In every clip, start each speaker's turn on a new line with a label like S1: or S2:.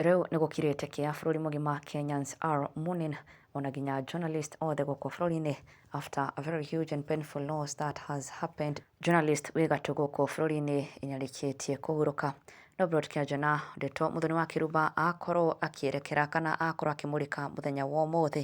S1: Rĩu nĩ gũkirĩte kĩa bũrũri mũgima Kenyans are mourning ona nginya journalist othe gũkũ bũrũri-inĩ after a very huge and painful loss that has happened. Journalist wĩ gatũ gũkũ bũrũri-inĩ ĩnyarĩkĩtie kũhurũka. Nobrot Kĩanjana, ndeto mũthoni wa Kĩrumba akorwo akĩerekera kana akorwo akĩmũrĩka mũthenya wa ũmũthĩ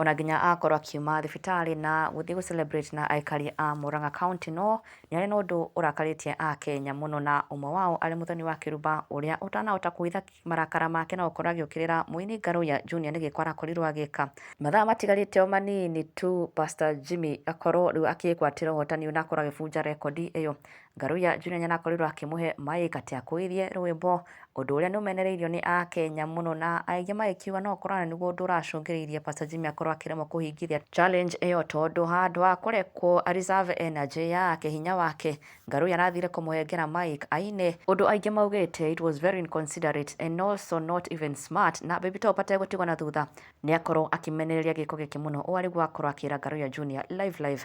S1: Ona nginya akorwo akiuma thibitarĩ na gũthiĩ gũ celebrate na aikari a Murang'a county no nĩ harĩ na ũndũ ũrakarĩtie a Kenya mũno na ũmwe wao arĩ Muthoni wa Kĩrumba ũrĩa ũtanahota kũhitha marakara make na gũkorwo agĩũkĩrĩra mũini Ngaruya Junior nĩ gĩko arakorirwo agĩka. Mathaa matigarĩte o manini tu Pastor Jimmy akorwo rĩu akĩgwatĩra ũhotani ũyũ na akorwo agĩbunja rekondi ĩyo. Ngaruya Junior nĩarakorirwo akĩmũhe mic atĩ akũirie rwĩmbo, ũndũ ũrĩa nĩũmenereirio nĩ Akenya mũno na aingĩ magĩkiuga no ũkorwo nĩguo ũndũ ũracũngĩrĩirie Pastor Jimmy akorwo akĩremwo kũhingĩria challenge ĩyo tondũ handũ ha kũrekwo a reserve energy yake, hinya wake, Ngaruya arathire kũmũhengera mic aine, ũndũ aingĩ maugĩte it was very inconsiderate and also not even smart na Baby Top ategũtigwo na thutha nĩakorwo akĩmenereria gĩko gĩkĩ mũno ũũ arĩguo akorwo akĩra Ngaruya Junior live live.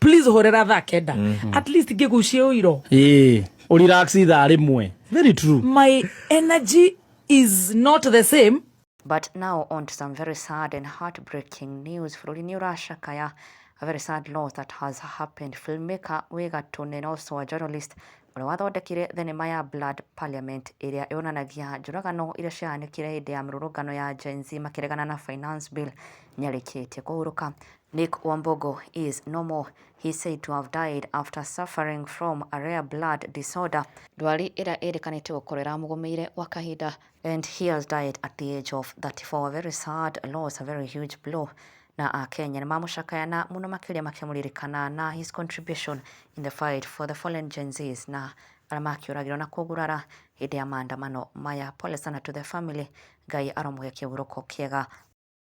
S2: please horera thaa kenda mm -hmm. at least ngĩgucie ũiro eh urelax
S3: ithaa rĩmwe very true my energy
S2: is not the same But now
S1: on to some very sad and heartbreaking news. Florine Urasha Kaya, a very sad loss that has happened. Filmmaker Wega Tune and also a journalist ũrĩa wathondekire thenema ya Blood Parliament ĩrĩa yonanagia njũragano iria ciahanĩkire hĩndĩ ya mĩrũrũngano ya Gen Z makĩregana na finance bill nĩarĩkĩtie kũhurũka Nick Wambogo is no more. He said to have died after suffering from a rare blood disorder. Ndwari ĩrĩa ĩrĩkanĩte gũkorwo ĩramũgũmĩire gwa kahinda. And he has died at the age of 34. A very sad loss, a very huge blow. Na Akenya nĩ mamũcakaya na mũno makĩria makĩmũririkana na his contribution in the fight for the fallen Gen Zs na arĩa makĩũragirwo na kũgurara hĩndĩ ya maandamano maya. Pole sana to the family. Ngai aromũhe kĩhurũko kĩega.